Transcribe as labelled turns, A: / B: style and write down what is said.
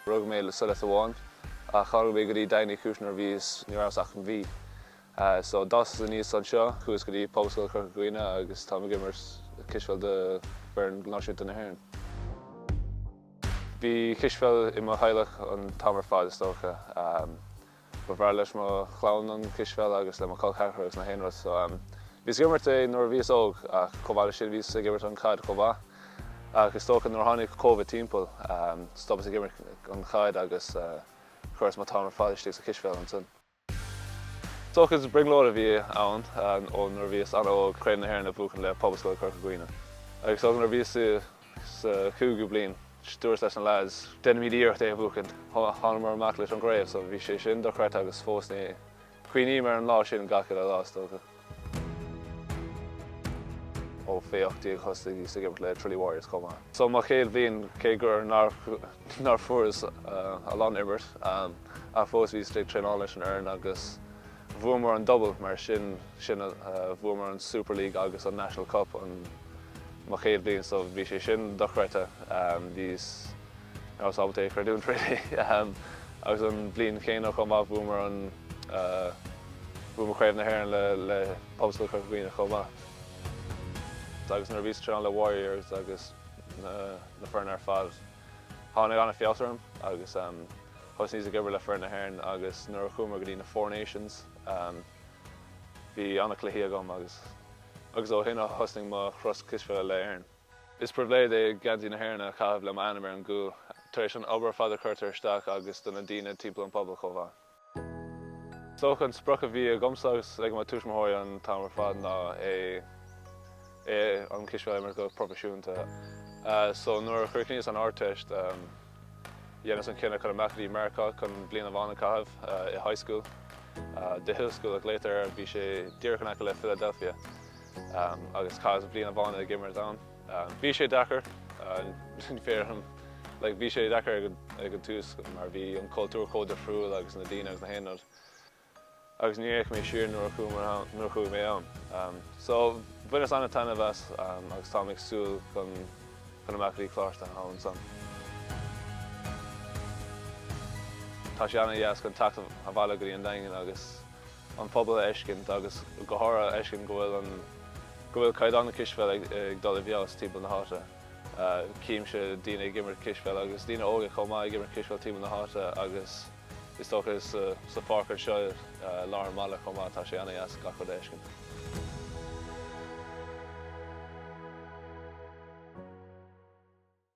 A: Rug mé sa Liotuáin ach tharraing mé go dtí Daingean Uí Chúis nuair a bhíos, ní rabhas ach aon mhí. So d'fhásas aníos anseo, chuas go dtí Pobalscoil Chorca Dhuibhne agus táim ag imirt cispheil do foireann náisiúnta na hÉireann. Bhí cispheil i mo theaghlach an t-am ar fad is dócha. Ba bhreá leis mo chlann an cispheil agus le mo col ceathracha agus na haon rud so bhíos ag imirt é nuair a bhíos óg ach chomh maith le sin bhíos ag imirt an chaid chomh maith ach is dócha nuair a tháinig Covid timpeall stopas ag imirt an chaid agus chuireas mo t-am ar fad istigh sa chispheil ansan. Is dócha is brionglóid a bhí ann ó nuair a bhíos an-óg Craobh na hÉireann a bhuachan le Pobalscoil Chorca Dhuibhne agus is dócha nuair a bhíos i Sa chúigiú bliain, dúrt leis na leaids, Déanfaimid iarracht é a bhuachaint. Thánamar amach leis an gcraobh so bhí sé sin dochreidte agus fós cuimhním ar an lá sin gach uile lá, is dócha. Ó fé ocht déag thosnaíos ag imirt le Tralee Warriors chomh maith. So mo chéad bhliain, cé gur nár fuaireas a lán imirt, ach fós bhíos ag traenáil leis an fhoireann agus. Bhuamar an double, mar sin, bhuamar an Super League agus an National Cup an, mo chéad bhliain so bhí sé sin dochreidte, bhíos, rabhas ábalta é a chreidiúint really. Agus an bhliain chéanna chomh maith bhuamar an, bhuamar Craobh na hÉireann le, le Pobalscoil Chorca Dhuibhne chomh maith. Agus nuair a bhíos ag traenáil le Warriors agus na, na foirne ar fad, Tháinig ana fheabhas orm agus thosnaíos ag imirt le foireann na hÉireann agus nuair a chuamar go dtí na Four Nations bhí ana cluichí agam agus agus ó shin thosnaigh mo thuras cispheile le Éirinn. Is pribhléid é geansaí na hÉireann a chaitheamh le m'ainm ar an gcúl tar éis an obair fada a chuirtear isteach agus do na daoine timpeall an phobail chomh maith. Is dócha an sprioc a bhí agamsa agus ag mo tuismitheoirí an t-am ar fad ná é é an cispheil a imirt go proifisiúnta. So nuair a chríochnaíos an Ardteist dheineas an cinneadh chun amach go dtí Meiriceá chun bliain amháin a chaitheamh i high school. The Hill School a ghlaotar air, bhí sé díreach in aice le Philadelphia agus chaitheas bliain amháin ag imirt ann. Bhí sé deacair, ní féidir liom, like, bhí sé deacair ag an tús mar bhí an cultúr chomh difriúil agus na daoine agus na haon rud agus ní fhéach mé siar nuair a chuaigh mé ann. So bhaineas an-taitneamh as agus táim ag súil chun chun amach go dtí coláiste ansan. Tá sé an-deas chun teacht abhaile go dtí an Daingean agus an pobal a fheiscint agus go háirithe a fheiscint go bhfuil an, go bhfuil caighdeán na cispheile ag dul i bhfeabhas timpeall na háite. Címse daoine ag imirt cispheile agus daoine óga chomh maith ag imirt cispheile timpeall na háite agus is dócha sa pháirc anseo i lár an bhaile chomh maith tá sé ana-dheas gach rud a fheiscint.